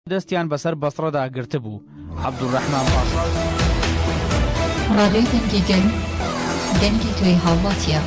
دەستیان بەسەر بەسڕەدا گرتبوو. عەبدولڕەحمان پاشا. ڕادیۆی دەنگی گەل، دەنگی تۆی هاوڵاتیە.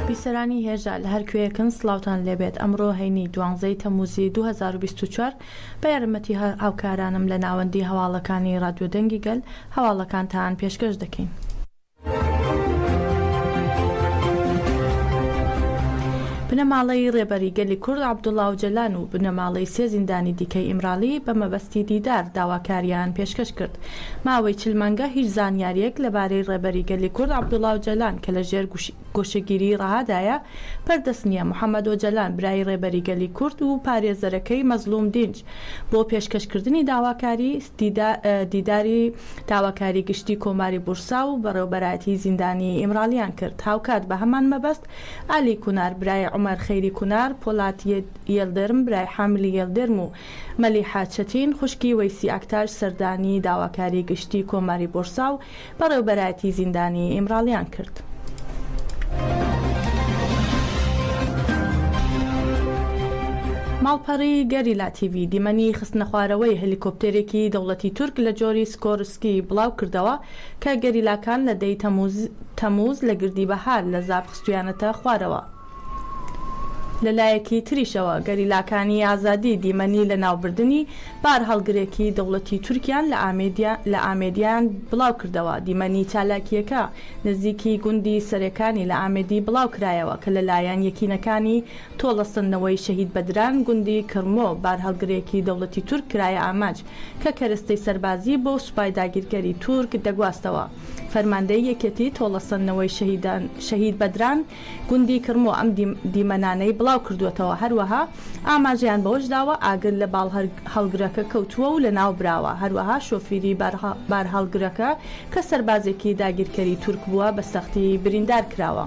بیسەرانی هێژا لە هەر کوێیەکن سڵاوتان لێ بێت ئەمڕۆ هەینی دوانزە ی تەمووزی دوو هەزار و بیست و چوار بە یارمەتی هە هاوکارانم لە ناوەندی هەواڵەکانی ڕادیۆ دەنگی گەل هەواڵەکان تان پێشکەش دەکەین. بنەماڵەی ڕێبەری گەلی کورد عەبدوڵا ئۆجەلان و بنەماڵەی سێ زیندانی دیکەی ئیمراڵی بە مەبەستی دیدار داواکارییان پێشکەش کرد. ماوەی چل مانگە هیچ زانیارییەک لەبارەی ڕێبەری گەلی کورد عەبدوڵا ئۆجەلان کە لەژێر گۆشەگیریی ڕەهادایە، بەردەست نییە. محەمەد ئۆجەلان برای ڕێبەری گەلی کورد و پارێزەرەکەی مەزڵوم دینچ بۆ پێشکەشکردنی داواکاری دیداری داواکاری گشتیی کۆماری بورسا و بەڕێوەبەرایەتیی زیندانیی ئیمرالییان کرد. هاوکات بە هەمان مەبەست عەلی کونار برای عومەر خەیری کونار، پۆلات یێلدێرم برای حامیلی یێلدێرم و مەلیحە چەتین، خوشکی وەیسی ئاکتاش سەردانی داواکاری گشتی کۆماری بۆرسا و بەڕێوبەرایەتی زیندانی ئیمرالیان کرد. ماڵپەڕی گەریلا تیڤی دیمەنی خستنەخوارەوەی هەلیکۆپتێرێکی دەوڵەتی تورک لە جۆری سکۆرسکی بڵاوکردەوە کە گەریلاکان لە دە ی تەمووز لە گردی بەهار لە زاپ خستوویانەتە خوارەوە. لەلایەکی تریشەوە گەریلاکانی ئازادی دیمەنی لەناوبردنی بارهەڵگرێکی دەوڵەتی تورکیان لە ئامێدیان بڵاوکردەوە، دیمەنی چالاکییەکە نزیکی گوندی سەرێکانی لە ئامێدی بڵاوکرایەوە کە لەلایەن یەکینەکانی تۆڵەسەندنەوەی شەهید بەدران گوندی کرمۆ بارهەڵگرێکی دەوڵەتی تورک کرایە ئامانج کە کەرەستەی سەربازی بۆ سوپای داگیرکەری تورک دەگواستەوە فەرماندەی یەکێتی تۆڵەسەندنەوەی شەهید بەدران گوندی کڕمۆ ئەم دیمەنانەی بڵاوکردووەتەوە، هەروەها ئاماژەیان بەوەشداوە، ئاگر لە باڵهەڵگرەکە کەوتووە و لەناوبراوە، هەروەها شۆفیری بارهەڵگرەکە کە سەربازێکی داگیرکەری تورک بووە بە سەختی بریندارکراوە.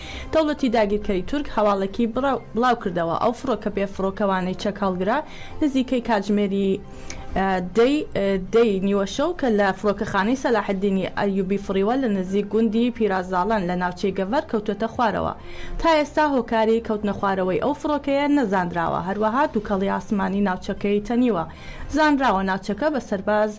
دەوڵەتی داگیرکەری تورک هەواڵێکی بڵاوکردەوە، ئەو فڕۆکە بێ فڕۆکەوانەی چەک هەڵگرە نزیکەی کاتژمێری دەی دەی نیوەشەو کە لە فڕۆکەخانەی سەلاحەدینی ئەیوبی فڕیوە لە نزیک گوندی پیرازاڵەن لە ناوچەی گەڤەر کەوتووەتە خوارەوە. تا ئێستا هۆکاری کەوتنەخوارەوەی ئەو فڕۆکەیە نەزانراوە، هەروەها دوکەڵی ئاسمانی ناوچەکەی تەنیوە زانراوە، ناوچەکە بە سەرباز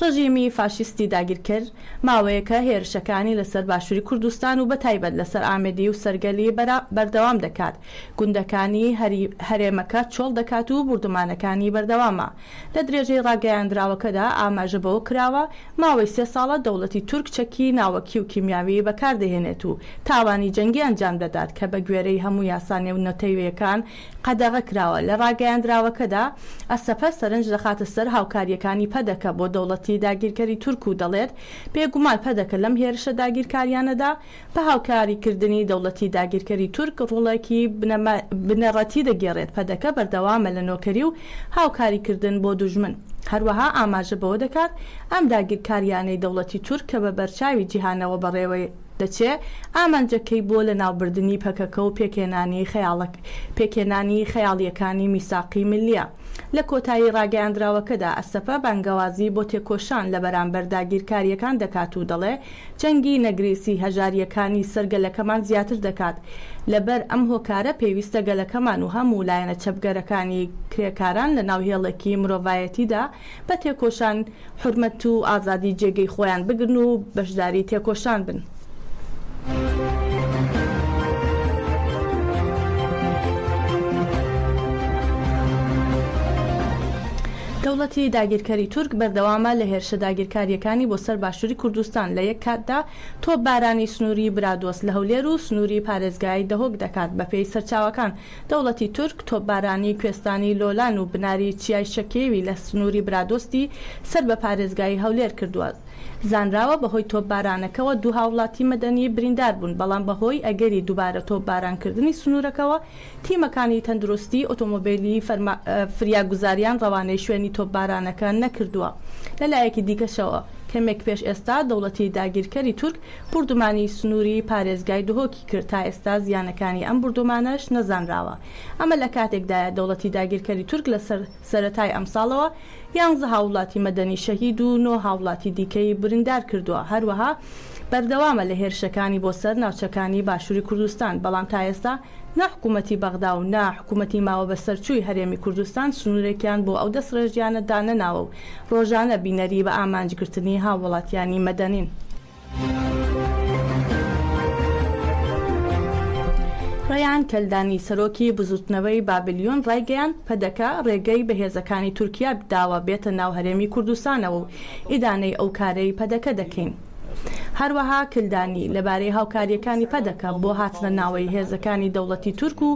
ڕژیمی فاشیستی داگیرکەر ماوەیەکە هێرشەکانی لەسەر باشوری کوردستان و بەتایبەت لەسەر ئامێدی و سەرگەلی بەرا بەردەوام دەکات، گوندەکانی هەری هەرێمەکە چۆڵ دەکات و بوردومانەکانی بەردەوامە. لە درێژەی ڕاگەیاندراوەکەدا ئاماژە بەوە کراوە، ماوەی سێ ساڵە دەوڵەتی تورک چەکی ناوەکی و کیمیاوی بەکاردەهێنێت و تاوانی جەنگی ئەنجام دەدات کە بە گوێرەی هەموو یاسا نێونەتەویەکان قەدەغە کراوە. لە راگەیاندراوەکەدا، ئەسەپە سەرنج دەخاتە سەر هاوکارییەکانی پەدەکە بۆ دەوڵەتی داگیرکەری تورک و دەڵێت، بێگومان پەدەکە لەم هێرشە داگیرکارییانەدا بە هاوکاریکردنی دەوڵەتی داگیرکەری تورک رۆڵێکی بنەڕەتی دەگێڕێت، پەدەکە بەردەوامە لە نۆکەری و هاوکاریکردن بۆ دوژمن. هەروەها ئاماژە بەوە دەکات، ئەم داگیرکارییانەی دەوڵەتی تورک کە بە بەرچاوی جیهانەوە بەڕێوەی. دەچێ، ئامانجەکەی بۆ لەناوبردنی پەکەکە و پێکهێنانی خەیاڵە پێکهێنانی خەیاڵییەکانی میساقی ملیە. لە کۆتایی ڕاگەیاندراوەکەدا ئەسەپە بانگەوازی بۆ تێکۆشان لە بەرامبەر داگیرکارییەکان دەکات و دەڵێ، جەنگی نەگریسی هەژارییەکانی سەر گەلەکەمان زیاتر دەکات، لەبەر ئەم هۆکارە پێویستە گەلەکەمان و هەموو لایەنە چەپگەرەکانی کرێکاران لەناو هێڵێکی مرۆڤایەتیدا بە تێکۆشان حورمەت و ئازادی جێگەی خۆیان بگرن و بەشداری تێکۆشان بن. دەوڵەتی داگیرکەری تورک بەردەوامە لە هێرشە داگیرکارییەکانی بۆ سەر باشووری کوردستان، لە یەک کاتدا تۆپبارانی سنووری برادۆست لە هەولێر و سنووری پارێزگای دهۆک دەکات، بەپێی سەرچاوەکان دەوڵەتی تورک تۆپبارانی کوێستانی لۆلان و بناری چیای شەکێوی لە سنووری برادۆستی سەر بە پارێزگای هەولێر کردووە. زانراوە بەهۆی تۆپبارانەکەوە دوو هاوڵاتی مەدەنی بریندار بوون، بەڵام بەهۆی ئەگەری دووبارە تۆپبارانکردنی سنوورەکەوە تیمەکانی تەندروستی ئۆتۆمۆبیلی فریاگوزاریان ڕەوانەی شوێنی تۆپبارانەکە نەکردووە. لەلایەکی دیکەشەوە کەمێک پێش ئێستا دەوڵەتی داگیرکەری تورک بوردومانی سنووری پارێزگای دهۆک کرد، تا ئێستا زیانەکانی ئەم بوردومانەش نەزانراوە، ئەمە لە کاتێکدایە دەوڵەتی داگیرکەری تورک لە سەرەتای ئەمساڵەوە یانزە هاووڵاتی مەدەنی شەهید و نۆ هاووڵاتی دیکەی بریندار کردووە، هەروەها بەردەوامە لە هێرشەکانی بۆ سەر ناوچەکانی باشوری کوردستان، بەڵام تا ئێستا نە حکومەتی بەغدا و نە حکومەتی ماوە بەسەرچووی هەرێمی کوردستان سنورێکیان بۆ ئەو دەستڕێژیانە دانەناوە و ڕۆژانە بینەری بە ئامانجگرتنی هاووڵاتیانی مەدەنین. ڕەیان کەلدانی سەرۆکی بزوتنەوەی بابلیون ڕایگەیاند، پەدەکە ڕێگەی بە هێزەکانی تورکیا داوە بێتە ناو هەرێمی کوردستانەوە و ئیدانەی ئەو کارەی پەدەکە دەکەین. هەروەها کلدانی لەبارەی هاوکارییەکانی پەدەکە بۆ هاتنە ناوەی هێزەکانی دەوڵەتی تورک و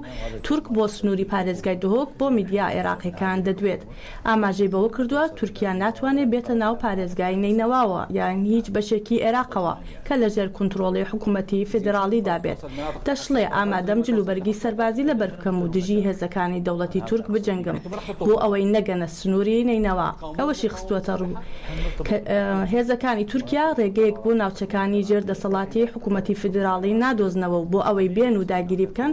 تورک بۆ سنووری پارێزگای دهۆک بۆ میدیا عێراقییەکان دەدوێت. ئاماژەی بەوە کردووە، تورکیا ناتوانێت بێتە ناو پارێزگای نەینەواوە یان هیچ بەشێکی ئێراقەوە کە لەژێر کونتڕۆڵی حکوومەتی فیدراڵیدا بێت، دەشڵێ، ئامادەم جلوبەرگی سەربازی لەبەر بکەم و دژی هێزەکانی دەوڵەتی تورک بجەنگم بۆ ئەوەی نەگەنە سنووری نەینەوا. ئەوەشی خستووەتەڕوو، کە هێزەکانی تورکیا رێگەیەک بۆ ناوچەکانی ژێر دەسەڵاتی حکوومەتی فیدراڵی نادۆزنەوە و بۆ ئەوەی بێن و داگیری بکەن،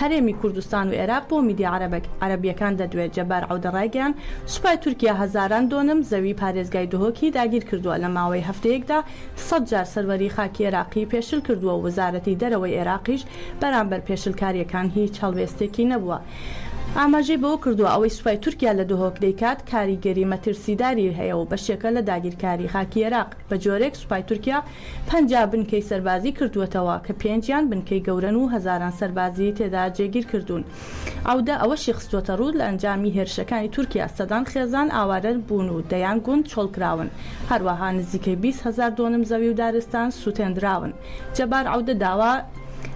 هەرێمی کوردستان و ئێراق بۆ میدیا عەرەبەک عەرەبییەکان دەدوێت جەبار عەودە ڕایگەیاند سوپای تورکیا هەزاران دۆنم زەوی پارێزگای دهۆکی داگیر کردووە لە ماوەی هەفتەیەکدا سەد جار سەروەری خاکی ئێراقی پێشل کردووە و وەزارەتی دەرەوەی ئێراقیش بەرامبەر پێشلکارییەکان هیچ هەڵوێستێکی نەبووە ئاماژەی بەوە کردووە ئەوەی سوپای تورکیا لە دهۆک دەیکات کاریگەری مەترسیداری هەیە و بەشێکە لە داگیرکاری خاکی ئێراق بەجۆرێک سوپای تورکیا پەنجا بنکەی سەربازی کردووەتەوە کە پێنجیان بنکەی گەورەن و هەزاران سەربازی تێدا جێگیر کردوون. عەودە ئەوەشی خستووەتەڕوو، لە ئەنجامی هێرشەکانی تورکیا سەدان خێزان ئاوارە بوون و دەیان گوند چۆڵکراون، هەروەها نزیکەی بیست هەزار دۆنم زەوی و دارستان سووتێندراون. جەبار عەودە داوا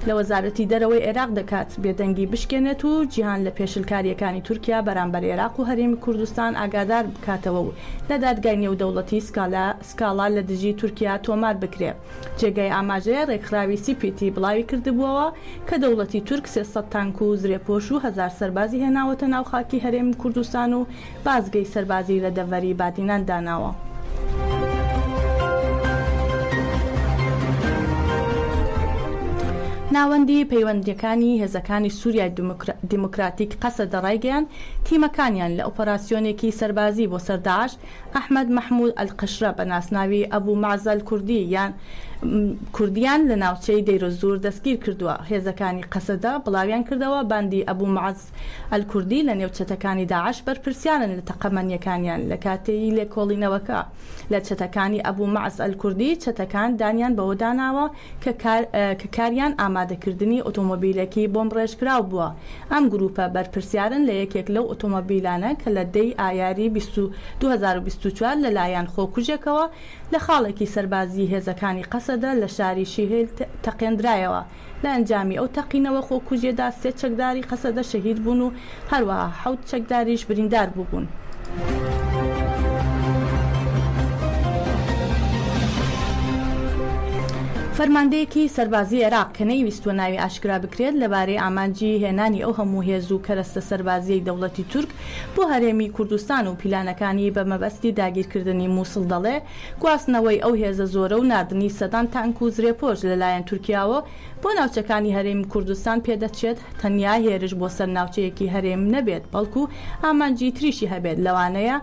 لە وەزارەتی دەرەوەی عێراق دەکات بێدەنگی بشکێنێت و جیهان لە پێشلکارییەکانی تورکیا بەرامبەر عێراق و هەرێمی کوردستان ئاگادار بکاتەوە و لە دادگای نێودەوڵەتی سکالا سکاڵا لە دژی تورکیا تۆمار بکرێ. جێگای ئاماژەیە رێکخراوی سی پی تی بڵاوی کردبووەوە کە دەوڵەتی تورک سێ سەد تانک و زرێپۆش و هەزار سەربازی هێناوەتە ناو خاکی هەرێم کوردستان و بازگەی سەربازی لە دەڤەری بادینان داناوە. ناوەندی پەیوەندییەکانی هێزەکانی سوریای دیموکراتیک قەسەدە رایگەیاند، تیمەکانیان لە ئۆپەراسیۆنێکی سەربازی بۆ سەر داعش ئەحمەد مەحمود ئەلقشرە بە ناسناوی ئەبو مەعزەل کوردی یان کوردیان لە ناوچەی دەیرەزوور دەستگیر کردووە. هێزەکانی قەسەدە بڵاویان کردەوە، باندی ئەبو مەعز ئەلکوردی لە نێو چەتەکانی داعش بەرپرسیارن لە تەقەمەنییەکانیان. لە کاتیی لێکۆڵینەوەکە لە چەتەکانی ئەبو مەعز ئەلکوردی، چەتەکان دانیان بەوەدا ناوە کە کار کە کاریان ئامادەکردنی ئۆتۆمۆبیلێکی بۆمبڕێژکراو بووە، ئەم گرووپە بەرپرسیارن لە یەکێک لەو ئۆتۆمۆبیلانە کە لە دە ی ئایاری بیست و دوو هەزار و بیست و چوار لەلایەن خۆکوژێکەوە لە خاڵێکی سەربازیی هێزەکانی قەسەدە لە شاری شیهیل تەقێندرایەوە، لە ئەنجامی ئەو تەقینەوە خۆکوژیەدا سێ چەکداری قەسەدە شەهید بوون و هەروەها حەوت چەکداریش بریندار بووبوون. فەرماندەیەکی سەربازی عێراق کە نەیویستووە ناوی ئاشکرا بکرێت لەبارەی ئامانجی هێنانی ئەو هەموو هێز و کەرەستە سەربازییەی دەوڵەتی تورک بۆ هەرێمی کوردستان و پیلانەکانی بە مەبەستی داگیرکردنی موسڵ دەڵێ گواستنەوەی ئەو هێزە زۆرە و ناردنی سەدان تانک و زرێپۆش لەلایەن تورکیاوە بۆ ناوچەکانی هەرێمی کوردستان پێدەچێت تەنیا هێرش بۆ سەر ناوچەیەکی هەرێم نەبێت، بەڵکو ئامانجی تریشی هەبێت، لەوانەیە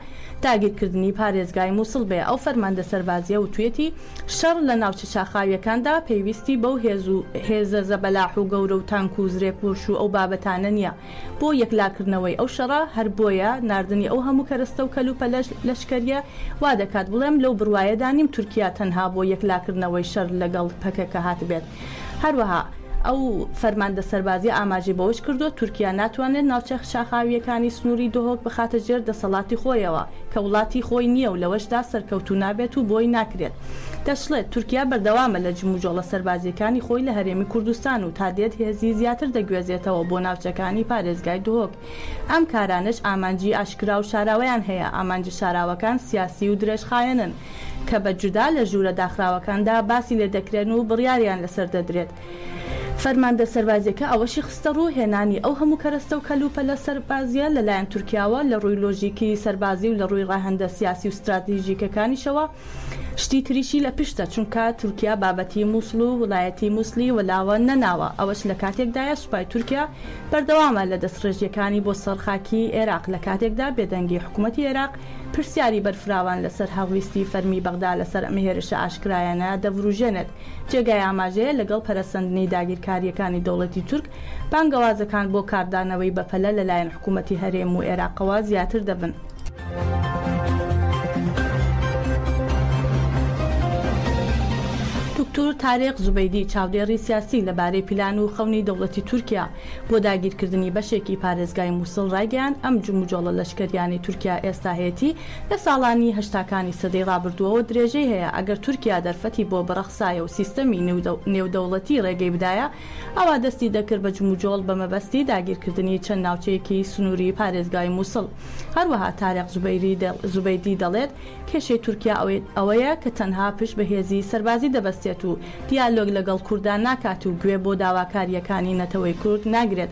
داگیرکردنی پارێزگای موسڵ بێ، ئەو فەرماندە سەربازییە وتویەتی، شەڕ لە ناوچە شاخاوییەکاندا پێویستی بەو هێز و هێزە زەبەلاح و گەورە و تانک و زرێپۆش و ئەو بابەتانە نییە، بۆ یەکلاکردنەوەی ئەو شەڕە، هەر بۆیە ناردنی ئەو هەموو کەرەستە و کەلوپەلە لەشکەرییە، وا دەکات بڵێم لەو بڕوایەدا نیم تورکیا تەنها بۆ یەکلاکردنەوەی شەر لەگەڵ پەکەکە هاتبێت. هەروەها ئەو فەرماندە سەربازییە ئاماژەی بەوەش کردووە، تورکیا ناتوانێت ناوچە شاخاوییەکانی سنووری دهۆک بخاتە ژێر دەسەڵاتی خۆیەوە، کە وڵاتی خۆی نییە و لەوەشدا سەرکەوتوو نابێت و بۆی ناکرێت. دەشڵێت، تورکیا بەردەوامە لە جموجۆڵە سەربازییەکانی خۆی لە هەرێمی کوردستان و تا دێت هێزی زیاتر دەگوێزێتەوە بۆ ناوچەکانی پارێزگای دهۆک، ئەم کارانەش ئامانجی ئاشکرا و شاراوەیان هەیە، ئامانجە شاراوەکان سیاسی و درێژخایەنن کە بە جودا لە ژوورە داخراوەکاندا باسی لێ دەکرێن و بڕیاریان لەسەر دەدرێت. فەرماندە سەربازییەکە ئەوەشی خستەڕوو، هێنانی ئەو هەموو کەرەستە و کەلوپەلە سەربازییە لەلایەن تورکیاوە لە رووی لۆژیکی سەربازی و لە رووی رەهەندە سیاسی و ستراتیژیکەکانیشەوە، شتی تریشی لە پشتە چونکە تورکیا بابەتی موسڵ و ولایەتی موسڵی وەلاوە نەناوە ئەوەش لە کاتێکدایە سوپای تورکیا بەردەوامە لە دەستڕێژیەکانی بۆ سەر خاکی ئێراق لە کاتێکدا بێدەنگی حکومەتی ئێراق پرسیاری بەرفراوان لەسەر هەڵویستی فەرمی بەغدا لەسەر ئەم هێرشە ئاشکرایانە دەوروژێنێت جێگای ئاماژەیە لەگەڵ پەرەسەندنی داگیرکاریەکانی دەوڵەتی تورک بانگەوازەکان بۆ کاردانەوەی بەپەلە لەلایەن حکوومەتی هەرێم و ئێراقەوە زیاتر دەبن. دوکتور تاریق زوبەیدی، چاودێڕی سیاسی لەبارەی پیلان و خەونی دەوڵەتی تورکیا بۆ داگیرکردنی بەشێکی پارێزگای مووسڵ ڕایگەیاند، ئەم جموجۆڵە لەشکەریانەی تورکیا ئێستا هەیەتی لە ساڵانی هەشتاکانی سەدەی ڕابردووەوە درێژەی هەیە، ئەگەر تورکیا دەرفەتی بۆ بڕەخسایە و سیستەمی نێودەوڵەتی ڕێگەی بدایە، ئەوا دەستی دەکرد بە جموجۆڵ بە مەبەستی داگیرکردنی چەند ناوچەیەکی سنووری پارێزگای مووسڵ. هەروەها تارق زوبەیدی دەڵێت، کێشەی تورکیا ئەوەیە کە تەنها پشت بە هێزی سەربازی دەبەستێت و دیالۆگ لەگەڵ کوردان ناکات و گوێ بۆ داواکارییەکانی نەتەوەی کورد ناگرێت.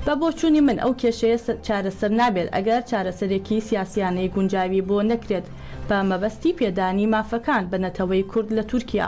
بە بۆچوونی من ئەو کێشەیە چارەسەر نابێت ئەگەر چارەسەرێکی سیاسیانەی گونجاوی بۆ نەکرێت بە مەبەستی پێدانی مافەکان بە نەتەوەی کورد لە تورکیا.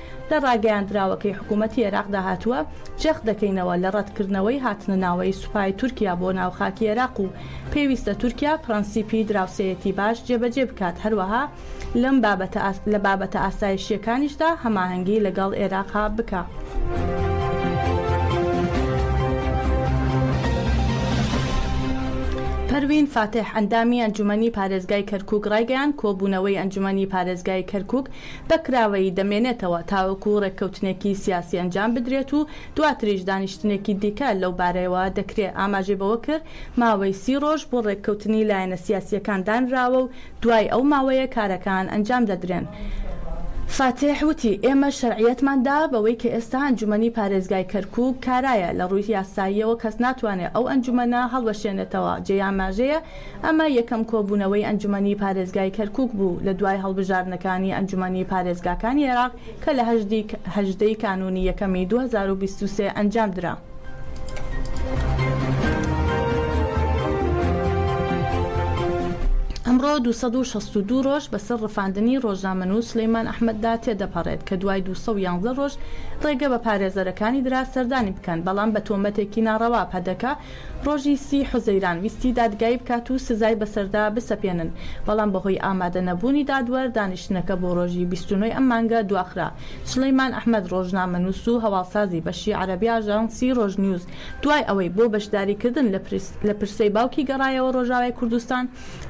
لە ڕاگەیاندراوەکەی حکوومەتی عێراقدا هاتووە، جەخت دەکەینەوە لە ڕەتکردنەوەی هاتنەناوەی سوپای تورکیا بۆ ناو خاکی عێراق و پێویستە تورکیا پرەنسیپی دراوسێیەتی باش جێبەجێ بکات، هەروەها لە بابەتە ئاسایشییەکانیشدا هەماهەنگی لەگەڵ عێراقا بکا. پەروین فاتیح، ئەندامی ئەنجوومەنی پارێزگای کەرکووک ڕایگەیاند، کۆبوونەوەی ئەنجوومەنی پارێزگای کەرکووک بە کراوەیی دەمێنێتەوە تاوەکو ڕێککەوتنێکی سیاسی ئەنجام بدرێت و دواتریش دانیشتنێکی دیکە لەو بارەیەوە دەکرێت، ئاماژەی بەوەکرد، ماوەی سی ڕۆژ بۆ ڕێککەوتنی لایەنە سیاسییەکان دانراوە و دوای ئەو ماوەیە کارەکان ئەنجام دەدرێن. فاتیح وتی، ئێمە شەرعیەتمان دا بەوەی کە ئێستا ئەنجومەنی پارێزگای کەرکوک کارایە، لە ڕووی یاساییەوە کەس ناتوانێت ئەو ئەنجومەنە هەڵوەشێنێتەوە، جێی ئاماژەیە ئەمە یەکەم کۆبوونەوەی ئەنجومەنی پارێزگای کەرکووک بوو لە دوای هەڵبژاردنەکانی ئەنجومەنی پارێزگاکانی عێراق کە لە هەژدە ی کانوونی یەکەمی دوو هەزار و بیست و سێ ئەنجام درا. ئەمڕۆ دوو سەد و شەست و دوو ڕۆژ بەسەر ڕفاندنی ڕۆژنامەنووس سلەیمان ئەحمەددا تێدەپەڕێت کە دوای دوو سەد و یانزە ڕۆژ ڕێگە بە پارێزەرەکانی درا سەردانی بکەن بەڵام بە تۆمەتێکی ناڕەوا پەدەکە ڕۆژی سی حوزەیران ویستی دادگایی بکات و سزای بەسەردا بسەپێنن، بەڵام بەهۆی ئامادە نەبوونی دادوەر دانیشتنەکە بۆ ڕۆژی بیست و نۆ ی ئەم مانگە دواخرا. سولەیمان ئەحمەد ڕۆژنامەنووس و هەواڵسازی بەشی عەرەبی ئاژانسی ڕۆژنیوز دوای ئەوەی بۆ بەشداریکردن لە پرسەی باوکی گەڕایەوە ڕۆژاوای کوردستان،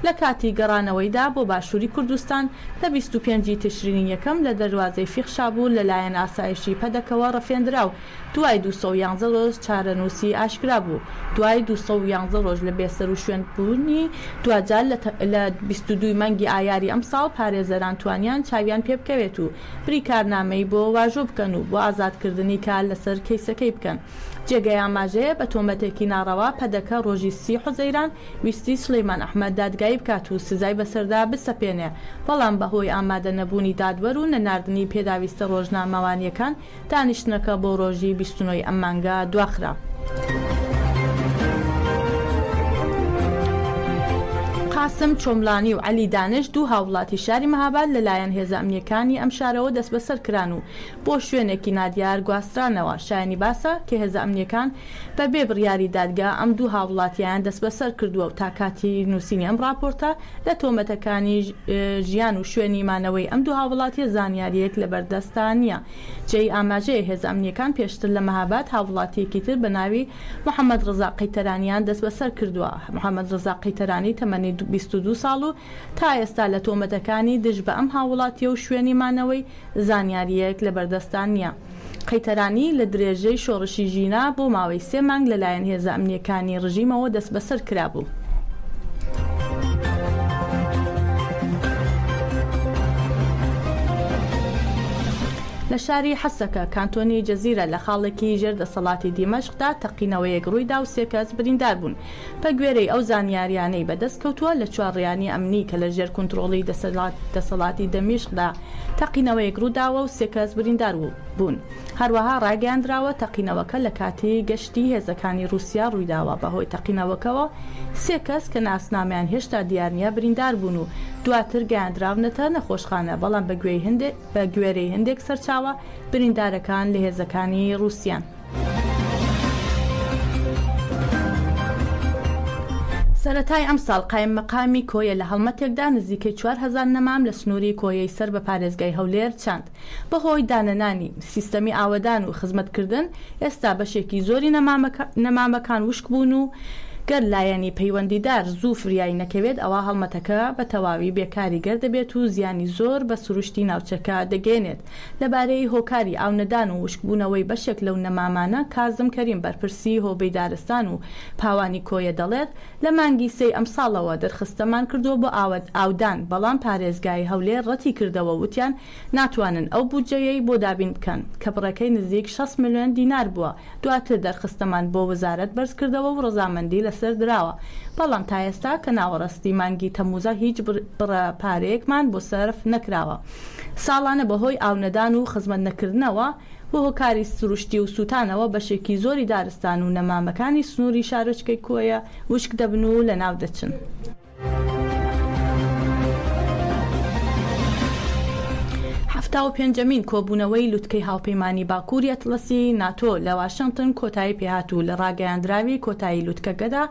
لە کاتی گەڕانەوەیدا بۆ باشووری کوردستان لە بیست و پێنج ی تشرینی یەکەم لە دەروازەی فیخشابوور لەلایەن ئاسایشی پەدەکەوە ڕفێندرا و دوای دوو سەد و یانزە رۆژ چارەنووسی ئاشکرا بوو. دوای دوو سەد و یانزە رۆژ لە بێسەروشوێن بوونی، دواجار لە لە بیست و دوو ی مانگی ئایاری ئەمساڵ پارێزەران توانیان چاویان پێ بکەوێت و بریکارنامەی بۆ واژۆ بکەن و بۆ ئازادکردنی کار لەسەر کەیسەکەی بکەن. جێگای ئاماژەیە بە تۆمەتێکی ناڕەوا پەدەکە رۆژی سی حوزەیران ویستی سولەیمان ئەحمەد دادگایی بکات و سزای بەسەردا بسەپێنێ، بەڵام بەهۆی ئامادەنەبوونی دادوەر و نەناردنی پێداویستە رۆژنامەوانییەکان دانیشتنەکە بۆ ڕۆژی بیست و نۆ ی ئەم مانگە دواخرا. قاسم چۆملانی و عەلی دانش دوو هاووڵاتی شاری مەهاباد لەلایەن هێزە ئەمنییەکانی ئەم شارەوە دەسبەسەر کران و بۆ شوێنێکی نادیار گواسترانەوە، شایەنی باسە کە هێزە ئەمنییەکان بەبێ بڕیاری دادگا ئەم دوو هاووڵاتییەیان دەسبەسەر کردووە و تا کاتی نووسینی ئەم ڕاپۆرتە لە تۆمەتەکانی ژیان و شوێنی مانەوەی ئەم دوو هاووڵاتییە زانیارییەک لەبەردەستدا نییە. جێی ئاماژەیە هێزە ئەمنییەکان پێشتر لە مەهاباد هاووڵاتییەکی تر بە ناوی محەممەد ڕەزا قەیتەرانییان دەستبەسەر کردووە، محەممەد ڕەزا قەیتەرانی تەمەنی بیست و دوو ساڵ و تا ئێستا لە تۆمەتەکانی دژ بە ئەم هاووڵاتییە و شوێنی مانەوەی زانیارییەک لەبەردەستدا نییە. قەیتەرانی لە درێژەی شۆڕشی ژینا بۆ ماوەی سێ مانگ لە لایەن هێزە ئەمنییەکانی ڕژیمەوە دەسبەسەر کرابوو. لە شاری حەسەکە کانتۆنی جزیرە لە خاڵێکی ژێر دەسەڵاتی دیمەشقدا تەقینەوەیەک ڕوویدا و سێ کەس بریندار بوون. بەگوێرەی ئەو زانیاریانەی بەدەست کەوتووە، لە چوارڕیانی ئەمنی کە لە ژێر کونتڕۆڵی دەسەڵاتی دەمیشقدا تەقینەوەیەک ڕووداوە و سێ کەس بریندار بوون. هەروەها ڕاگەیاندراوە تەقینەوەکە لە کاتی گەشتی هێزەکانی ڕووسیا ڕوویداوە، بەهۆی تەقینەوەکەوە سێ کەس کە ناسنامەیان هێشتا دیار نییە بریندار بوون و دواتر گەیاندراونەتە نەخۆشخانە، بەڵام بەگوێرەی هەندێک سەرچاوە بریندارەکان لە هێزەکانی ڕووسیان. سەرەتای ئەمساڵ قایم مەقامی کۆیە لە هەڵمەتێکدا نزیکەی چوار هەزار نەمام لە سنووری کۆیەی سەر بە پارێزگای هەولێر چاند. بەهۆی دانەنانی سیستەمی ئاوەدان و خزمەتکردن، ئێستا بەشێکی زۆری نەمامەکان وشک بوون و گەر لایەنی پەیوەندیدار زوو فریای نەکەوێت ئەوا هەڵمەتەکە بە تەواوی بێ کاریگەر دەبێت و زیانی زۆر بە سروشتی ناوچەکە دەگەیەنێت لەبارەی هۆکاری ئاونەدان و وشکبوونەوەی بەشێک لەو نەمامانە، کازم کەریم بەرپرسی هۆبەی دارستان و پاوانی کۆیە دەڵێت، لە مانگی سێی ئەمساڵەوە دەرخستەمان کردووە بۆ ئاودان، بەڵام پارێزگای هەولێر رەتی کردەوە وتیان ناتوانن ئەو بودجەیەی بۆ دابین بکەن، کە بڕەکەی نزیک شەست ملیۆن دینار بووە، دواتر دەرخستەمان بۆ وەزارەت بەرزکردەوە و رەزامەندی لەسەر دراوە، بەڵام تائێستا کە ناوەڕستی مانگی تەموزە هیچ بڕە پارەیەکمان بۆ سەرف نەکراوە. ساڵانە بەهۆی ئاونەدان و خزمەتنەکردنەوە بۆ هۆکاری سروشتی و سووتانەوە بەشێکی زۆری دارستان و نەمامەکانی سنووری شارۆچکەی کۆیە وشک دەبن و لەناو دەچن. حەفتا و پێنجەمین کۆبوونەوەی لوتکەی هاوپەیمانی باکووری ئەتڵەسی، ناتۆ، لە واشنتن کۆتایی پێهات و لە ڕاگەیاندراوی کۆتایی لوتکەکەدا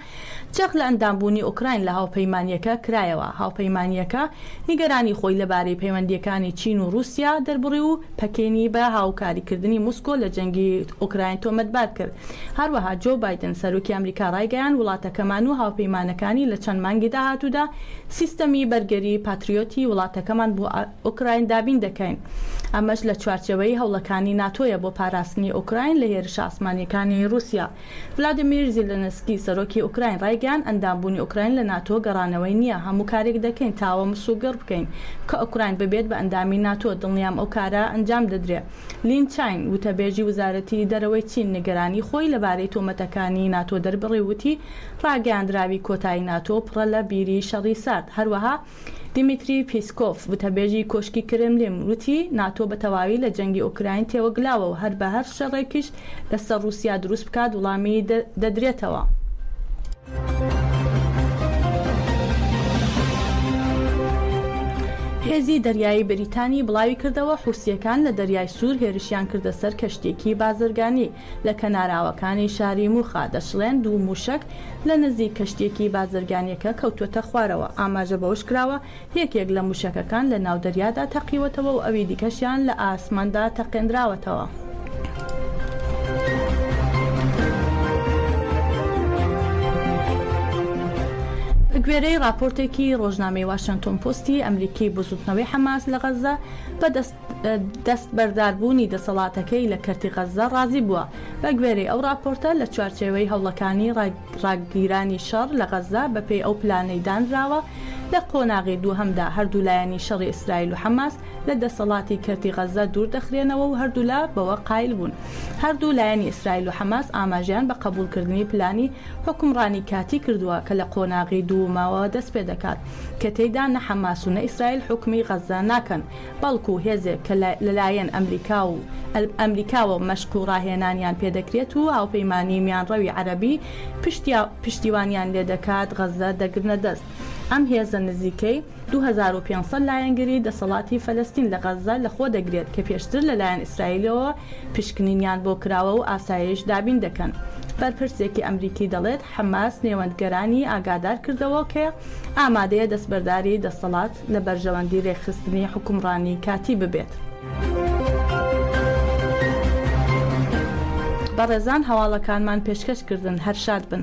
جەخت لە ئەندامبوونی ئۆکراین لە هاوپەیمانییەکە کرایەوە، هاوپەیمانییەکە نیگەرانی خۆی لەبارەی پەیوەندییەکانی چین و رووسیا دەربڕی و پەکینی بە هاوکاریکردنی موسکۆ لە جەنگی ئۆکراین تۆمەتبار کرد. هەروەها جۆو بایدن، سەرۆکی ئەمریکا رایگەیاند، وڵاتەکەمان و هاوپەیمانەکانی لە چەند مانگی داهاتوودا سیستەمی بەرگەری پاتریۆتی وڵاتەکەمان بۆ ئۆکراین دابین دەکەین، ئەمەش لە چوارچێوەی هەوڵەکانی ناتۆیە بۆ پاراستنی ئۆکراین لە هێرشە ئاسمانییەکانی رووسیا. ڤلادیمیر زیلنسکی سەرۆکی ئۆکراین ڕایگەیاند، ئەندامبوونی ئۆکراین لە ناتۆ گەڕانەوەی نییە، هەموو کارێک دەکەین تاوە مسوگڕ بکەین کە ئۆکراین ببێت بە ئەندامی ناتۆ، دڵنیام ئەو کارە ئەنجام دەدرێ. لین چاین، وتەبێژی وزارەتی دەرەوەی چین نیگەرانیی خۆی لەبارەی تۆمەتەکانی ناتۆ دەربڕی و وتی، ڕاگەیاندراوی کۆتایی ناتۆ پڕە لە بیری شەڕی سارد، هەروەها، دیمیتری پیسکۆف، وتەبێژی کۆشکی کرێملین وتی، ناتۆ بە تەواوی لە جەنگی ئۆکراین تێوەگلاوە و هەر بە هەر شەڕێکیش لەسەر ڕووسیا دروست بکات وڵامی دەدرێتەوە. هێزی دەریایی بەریتانی بڵاویکردەوە، حوسییەکان لە دەریای سوور هێرشیان کردە سەر کەشتییەکی بازرگانی لە کەناراوەکانی شاری موخا دەشڵێن دوو مووشەک لە نزیک کەشتییەکی بازرگانییەکە کەوتووەتە خوارەوە، ئاماژە بەوەشکراوە، یەکێک لە مووشەکەکان لە ناو دەریادا تەقیوەتەوە و ئەوی دیکەشیان لە ئاسماندا تەقێندراوەتەوە. بەگوێرەی ڕاپۆرتێکی ڕۆژنامەی واشێنتۆن پۆستی ئەمریکی بزووتنەوەی حەماس لە غەززە بە دەست دەستبەرداربوونی دەسەڵاتەکەی لە کەرتی غەززە ڕازی بووە. بەگوێرەی ئەو ڕاپۆرتە، لە چوارچێوەی هەوڵەکانی ڕاگیرانی شەڕ لە غەززە بەپێی ئەو پلانەی دانراوە، لە قۆناغی دووهەمدا هەردوو لایەنی شەڕی ئیسرائیل و حەماس لە دەسەڵاتی کەرتی غەززە دوور دەخرێنەوە و هەردوولا بەوە قایل بوون. هەردوو لایەنی ئیسرائیل و حەماس ئاماژەیان بە قەبووڵکردنی پلانی حوکمڕانی کاتی کردووە کە لە قۆناغی دوومەوە دەست پێدەکات کە تێیدا نە حەماس و نە ئیسرائیل حوکمی غەززە ناکەن بەڵکو هێزێک کە لەلایەن ئەمریکاوە مەشق و ڕاهێنانیان پێدەکرێت و هاوپەیمانیی میانڕەوی عەرەبی پشتیوانیان لێدەکات، غەززە دەگرنە دەست. ئەم هێزە نزیکەی دوو هەزار و پێنج سەد لایەنگری دەسەڵاتی فەلەستین لە غەززە لەخۆدەگرێت کە پێشتر لەلایەن ئیسرائیلەوە پشکنینیان بۆ کراوە و ئاسایش دابین دەکەن. بەرپرسێکی ئەمریکی دەڵێت، حەماس نێوەندگەرانی ئاگادارکردەوە کە ئامادەیە دەستبەرداری دەسەڵات لە بەرژەوەندی رێکخستنی حوکمڕانی کاتی ببێت. بەڕێزان هەواڵەکانمان پێشکەش کردن هەر شاد بن.